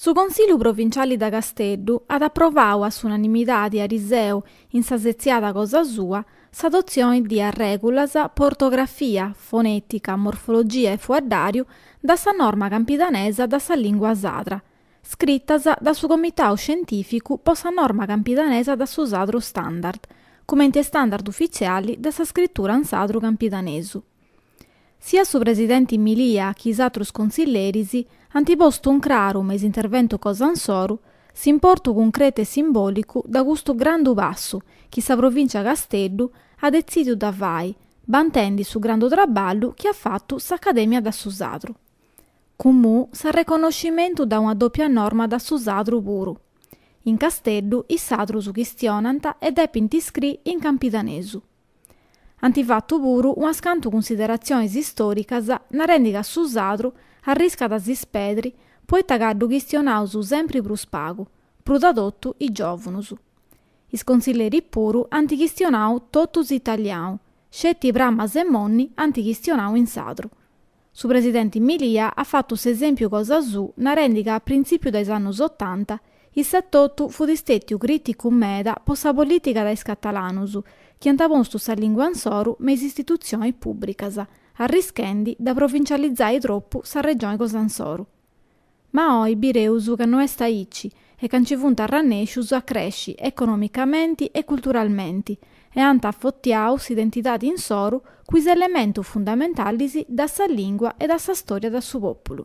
Su Consillu Provinciali da Casteddu at aprovau a s'unanimidadi ariseu in sa setziada cosa sua s'adotzioni di arregulas po ortografia, fonetica, morfologia e fuaddariu da sa norma campidanesa da sa lingua sadra, scritas da su Comitau Scientificu po sa norma campidanesa da su sadru standard, cumenti e standard ufitziali da sa scritura in sadru campidanesu. Siat su presidenti Milia chi is atrus consilleris ant postu in craru me is interventus cosa insoru s'importu cuncretu e simbolicu da custu grandu passu chi sa Provìncia Casteddu at detzidiu da fai bantendi su grandu traballu chi at fatu s'Acadèmia da su Sadru cumu s'arreconnoscimentu da una dòpia norma da su Sadru puru. In Casteddu is Sadrus chistionant e depint iscri in campidanesu. Ant fatu puru unas cantu cunsideratzionis istòricas narendi ca su sadru arriscat a s'ispedri poita ca ddu chistionaus sempri prus pagu, prus da totu is giòvunus. Is consilleris puru ant chistionau totus italianu, sceti Pramas e Monni ant chistionau in sadru. Su presidenti Milia at fatu s'esèmpiu cosa suu narendi ca a printzìpiu de is annus otanta issu etotu fut stètiu crìticu meda po sa polìtica da is catalanus chi ant postu sa lìngua insoru me is istitutzionis pùbricas arrischendi da provincializai tropu sa regioni cosa insoru. Ma oi bireus ca no est aici e ca nci funt arrannèscius a cresci economicamenti e culturalmenti e ant afotiau s'identidadi insoru cun is elementus fundamentalis da sa lìngua e da sa stòria da su pòpulu.